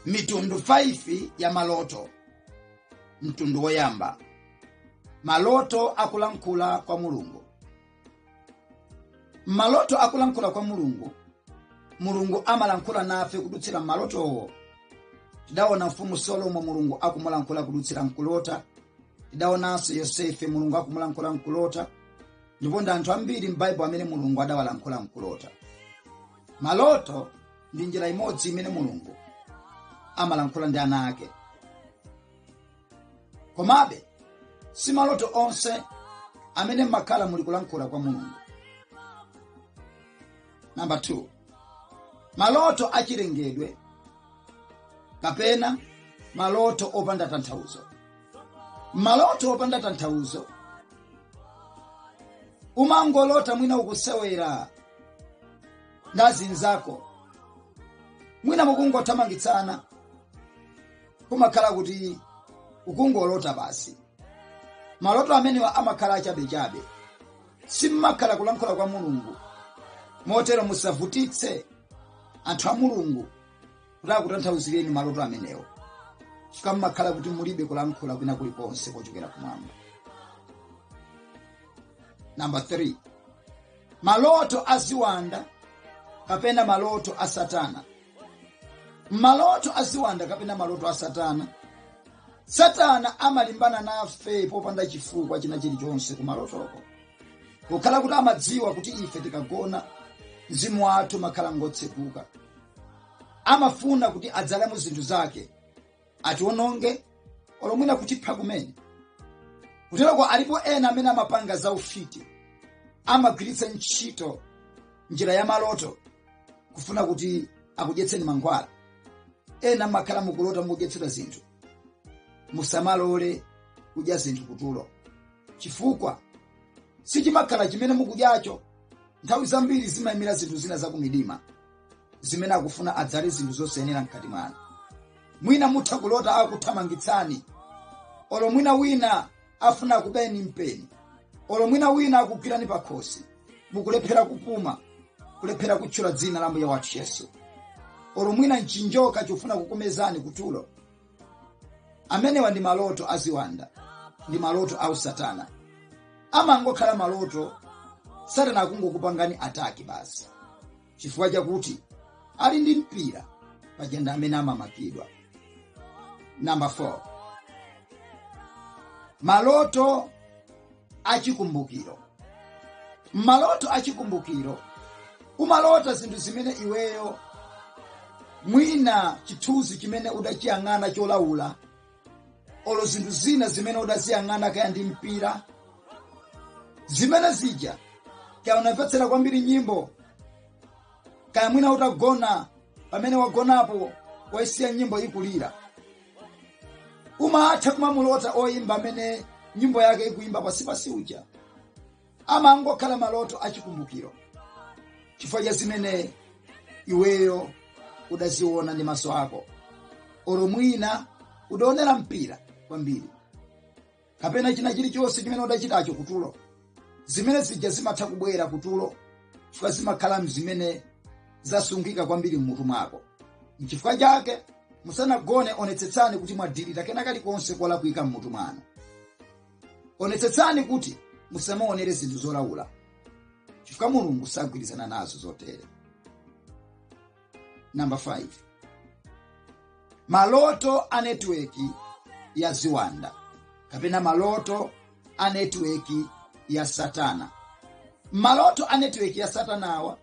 mitundu 5 ya maloto mtundu woyamba maloto akulankhula kwa mulungu maloto akulankhula kwa mulungu mulungu amalankhula nafe kudutsira mmalotowo tidaona mfumu solomo mulungu akumulankhula kudutsira mkulota tidaonanso yosefe mulungu akumulankhula mkulota ndipo ndi anthu ambiri m'baibulo amene mulungu adawalankhula mkulota maloto ndi njira imodzi imene mulungu amalankhula ndi ana ake komabe si maloto onse amene mmakhala muli kulankhula kwa mulungu namba 2 maloto achilengedwe kapena maloto opanda tanthauzo maloto opanda tanthauzo umangolota mwina ukusewera ndi azinzako mwina mukungothamangitsana kumakhala kuti ukungolota basi maloto amenewa amakhala achabechabe simmakhala kulankhula kwa mulungu motero musavutitse anthu a mulungu kuti akutanthauzireni maloto amenewo chifukwa mmakhala kuti mulibe kulankhula kwina kulikonse kochokera kumwamba namba 3 maloto a ziwanda kapena maloto a satana maloto a ziwanda kapena maloto a satana satana amalimbana nafe popanda chifukwa china chilichonse ku malotoko kukhala kuti amadziwa kuti ife tikagona mzimu wathu umakhala ngotseguka amafuna kuti adzalemo zinthu zake atiwononge olo mwina kutipha kumene kuteroko alipo ena amene amapanga za ufiti amagwiritsa ntchito njira ya maloto kufuna kuti akudyetseni mankhwala ena mumakhala mukulota mukudyetsedwa zinthu musamalole kudya zinthu kutulo chifukwa sichimakhala chimene mukudyacho nthawi zambiri zimayimira zinthu zina zakumidima zimene akufuna adzale zinthu zosayenera mkati mwanu mwina mutha kulota akuthamangitsani olo mwina wina afuna akubayeni mpeni olo mwina wina akugwirani pakhosi mukulephera kupuma kulephera kutchula dzina la mbuye wathu yesu olo mwina nchinjoka chofuna kukumezani kutulo amenewa ndi maloto aziwanda ndi maloto a usatana amangokhala maloto satana akungokupangani ataki basi chifukwa chakuti ali ndi mpira paja nde amene amamakidwa namba 4 maloto achikumbukiro maloto achikumbukiro umalota zinthu zimene iweyo mwina chithunzi chimene udachiyang'ana cholawula olo zinthu zina zimene udaziyang'ana kaya ndi mpira zimene zija kaya unamvetsera kwambiri nyimbo kaya mwina utagona pamene wagonapo waisiya nyimbo ikulira umatha kumamulota oyimba amene nyimbo yake ikuyimba pasipasi uja amangokhala maloto achikumbukiro chifukwa cha zimene iweyo udaziona ndi maso ako oro mwina udaonera mpira kwambiri kapena china chilichonse chimene udachitacho kutulo zimene zija zimatha kubwera kutulo chifukwa zimakhala mzimene zasungika kwambiri mmutu mwako nchifukwa chake musanagone onetsetsani kuti mwadilita kena kalikonse kolakwika mmutu mwanu onetsetsani kuti musamaonere zinthu zolaula chifukwa mulungu sagwirizana nazo zotere namba 5 maloto a netiweki ya ziwanda kapena maloto a netiweki ya satana maloto a netiweki ya satanawa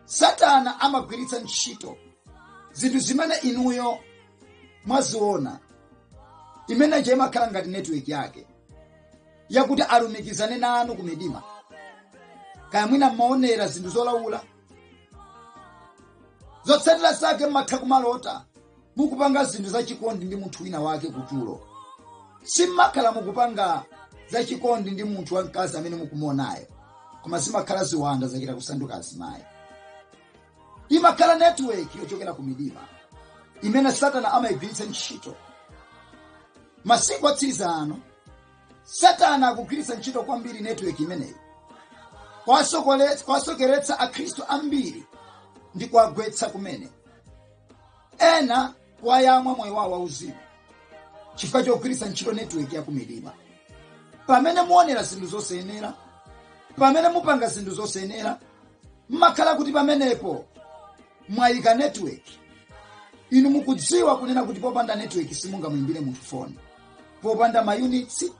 satana amagwiritsa ntchito zinthu zimene inuyo mwaziona imene ija imakhala ngati network yake yakuti alumikizane nanu ku midima kaya mwina mmaonera zinthu zolaula zotsatira zake mmatha kumalota mukupanga zinthu zachikondi ndi munthu wina wake kutulo simmakhala mukupanga zachikondi ndi munthu wamkazi amene mukumuonayo koma zimakhala ziwanda zachita kusanduka azimayi imakhala network yochokera ku midima imene satana amayigwiritsa ntchito masiku otsiriza ano satana akugwiritsa ntchito kwambiri network imeneyi kuwasokeretsa akhristu ambiri ndi kuwagwetsa kumene ena kuwayamwa moyo wawo wauzimu chifukwa chogwiritsa ntchito netiweki ya kumidima pamene muonera zinthu zosayenera pamene mupanga zinthu zosayenera mmakhala kuti pamenepo mwayika netiweki inu mukudziwa kunena kuti popanda netiweki simungamuyimbire munthu foni popanda mayunitsi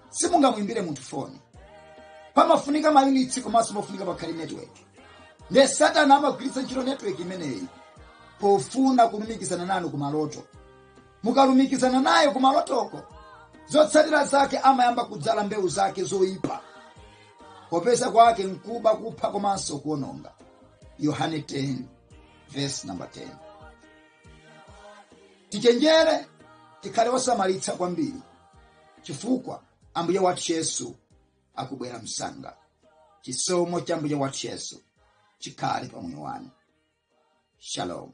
simungamuyimbire munthu foni pamafunika mayunitsi komanso pafunika pakhale netiweki ndiye satana amagwiritsa ntchito netiweki imeneyi pofuna kulumikizana nanu kumaloto mukalumikizana naye kumalotoko zotsatira zake amayamba kudzala mbewu zake zoyipa popeza kwake nkuba kupha komanso kuononga yohane 10 verse number 10 tichenjere tikhale osamalitsa kwambiri chifukwa ambuye wathu yesu akubwera msanga chisomo cha ambuye wathu yesu chikhale pa moyo wanu shalom